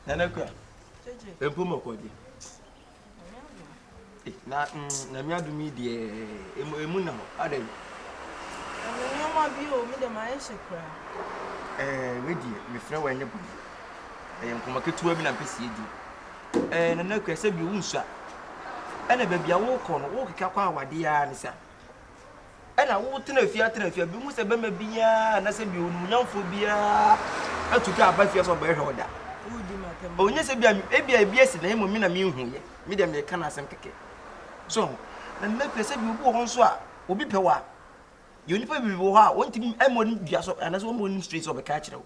Nana kura. Mpo mo kɔgye. Eh, na mm, na mi adum yi deɛ emu emu na hɔ adɛ. Ɛmu nneɛma bi o mi dɛ ma ayɛ hyɛ kura. Ɛɛ wei deɛ mefrɛ wɔ ɛnyɛ bɔne. Ɛyɛ nkɔmɔ ketewa bi na mpɛ sie di. Ɛɛ nana kura sɛ bi owu nsua. Ɛna baabi a wokɔ no wokeka kɔ awadeɛ ara ne sa. Ɛna wo tena afia tena afia bi hu sɛ bɛma biara anasɛ bi onum nyamfo biara atu ka aba fia sɛ ɔbɛhwɛ ɔda ɔnyɛ sɛ bia ebi a bi asi na mmom me na menhu yɛ me dɛm yɛ ka na asɛm kɛkɛ so na mma fia sɛ bi obi wɔ hɔ nso a obi pɛ wa yɛ onipa bi wɔ hɔ a wɔntumi mmɔ ne dua so anasɛ wɔmmɔ ne straight sɛ ɔbɛka akyerɛ wo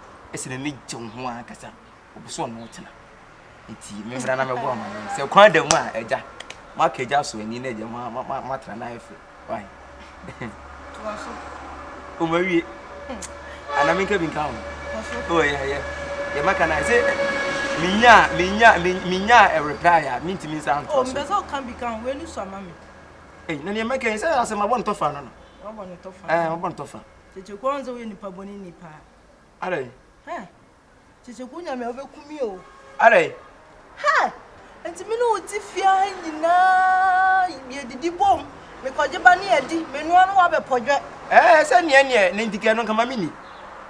ɛsɛ na ne gye ho ankasa ɔpɛ sɛ ɔno tena nti memmra na mɛbɔ ama no sɛ kwan da mu a agya maka agya so ani na agya matena no ayɛ fɛ wae ɔmawie ana menka bi nka ho yɛyɛ yɛmaka no sɛ menya menya menya reply a mentumi nsa ntoa so ɔmpɛ sɛ ɔka bi ka ho wei ne so ama me na neɛ mɛka sɛ asɛm abɔ ntɔfa no no ɔbɔ ntɔfa Kyekye kwan sɛ woyɛ nipa bɔne ni paa. Adɛn? Hɛ! Kyekye kwan nyame a wobɛku mi o. Adɛn? Hɛ! Nti me ne wo te fie ha nyinaa yɛdidi bom, mekɔgye ba ne yɛdi, menoa ne woabɛpɔdwɛ. Ɛɛ sɛ neɛ neɛ ne ntikɛ no nkama me ni.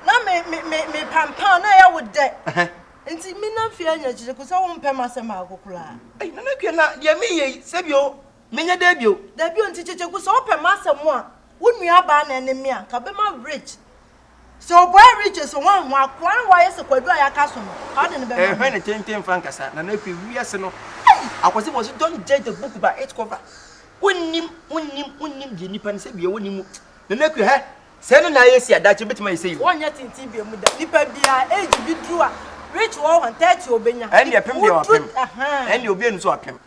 Na me me me me pampaa na ɛyɛ wo dɛ. Nti me nam fie ha nyina kyekye kwan sɛ wompɛ m'asɛm baako koraa. Ei Nana Akua na deɛ meyɛ yi sɛ bio Menyɛ dɛɛ bio. Dabi o nti kyekyeku sɛ wopɛ masɛm a wo nua baa na ɛne me a nka bɛma rich sɛ ɔbɔɛ rich eso hwan ho akoa na wayɛ sɛ kwadu a yaka so no nka wode no bɛma me. Ɛhwɛ ne tenten mfa nkasa na na afei wiase no ei akwasi bɔ so don't judge the book by its cover wonnim wonnim wonnim deɛ nipa no sɛ bia wɔ ne mu na na akua hɛ sɛ ɛno na ayɛ si a daakye bɛtumi ayɛ sɛ yi o. Wɔnyɛ tenten bia mu da nipa bia age bi duru a rich wɔ hɔ 30 ɔbɛnya ɛndeɛ pem deɛ wapem ɛndeɛ obi anu so apem.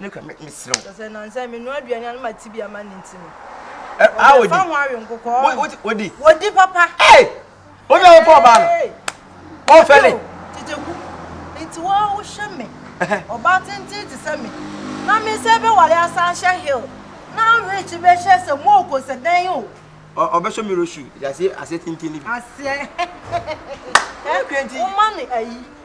Nne ka me, mesrɛ wo. Sɛ nnansa yi menoa aduane a na ma tibia ma ne nti no. Ɛ, a wɔdi. Wɔfa ho awe nkokɔɔ. Wo, wo, wɔdi. Wɔdi papa. Ee! Wɔn nyɛ wɔpɔ ɔbaa no. Wɔn fɛle. Tete ku. Nti wo a wohwɛ me. Ɔbaa tenten te sɛ me. Na me sɛ bɛwale asan hyɛ hill. Na rich bɛhyɛ sɛ moko sɛ dɛn o. Ɔ, ɔbɛhyɛ me roshu. Yɛ aseɛ, aseɛ tenten no bi. Aseɛ. Ɛ, woma no ayi.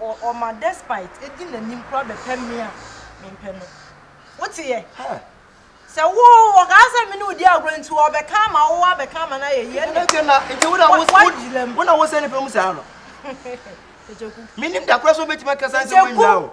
O ɔma despite edi nanim koraa bɛpɛ me a mempɛ no Woteɛ? Sɛ wo ɔkaa sɛ mene odi agorɔ nti ɔbɛka ama wo abɛka ama no ayɛ yie ɛnna Ɛnɛ na nti wona wo Wagyina mu. wona wo sɛ ne pɛ mu saa no Kyeku Menim da koraa sɛ wobɛtumi akasa nsɛm Kyeku. anwira o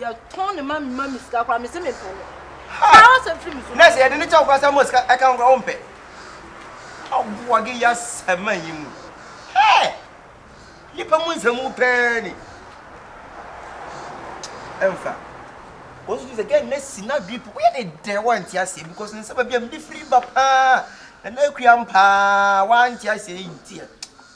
yɛ tɔn ne ma ma mi sika kora mi se mi mpɛ no kaa wɔ sɛ firi mi so. nɛɛsi yɛde ne kyɛw kora sɛ mo sika ɛka ho kora wo mpɛ ɔboa ge ya sɛma yi mu hɛɛ nipa mu nsɛmu pɛɛ ni ɛnfa wɔn nso sɛ gɛn nɛɛsi na dwi po woyɛ ne dɛ wɔn nti aseɛ because ne nsɛba bi a mi de firi ba paa na na akua mpaa wɔn nti aseɛ yi nti yɛ.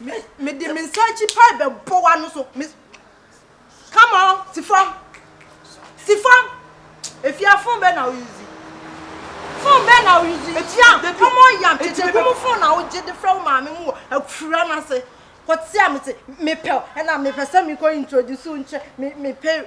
Me me de me nsa akyi pae bɛ bɔ wa no so me come on si fam si fam efia fon bɛ na o yuzi fon bɛ na o yuzi etia come on yam tete kum fon na o gye de frɛ wo maame mu wɔ afura no ase kɔtea me se mepɛw ɛna mepɛ sɛ mekɔ introduce nkyɛ me mepɛ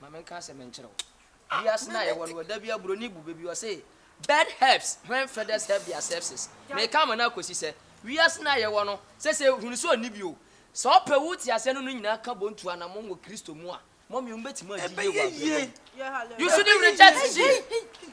Ma menka asɛm nkyerɛ wo. Wiase no a yɛwɔ no, wɔda bi a buroni bu baabi, ɔse, Bird helps when feathers help their sepsis. Meka ama no akosi sɛ, wiase no a yɛwɔ no, sɛ sɛ ehunu sɛ onni bi o, sɛ ɔpɛ wo te aseɛ ne no nyinaa ka bɔ ntu anammɔn wɔ Kristo mu a, mɔmee, wobɛtumi agye Yehowa abrabɔ mu. You shouldn't reject Jim.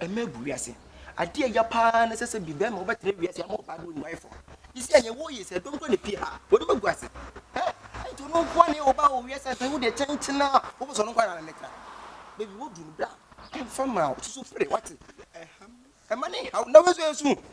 Ɛma ɛgu wiase. Adeɛ a ɛya paa ne sɛ sɛ bi bɛrima wobɛtena wiase ama ɔbaa bɛyɛ odwaefoɔ. Te sɛ ɛnyɛ woyɛ sɛ dɔm kɔ ne pie ha wɔde bɛgu ase. Ɛ ɛnti ɔno nkoa ne ɔbaa wɔ wiase afei wodeɛ kyenkyena a wopɛ sɛ ɔno nkoa na ne tra. Baabi wodu no bra ɛmfa ma wo susu firi wate. Ɛma ne haw na wei nso ɛyɛ su.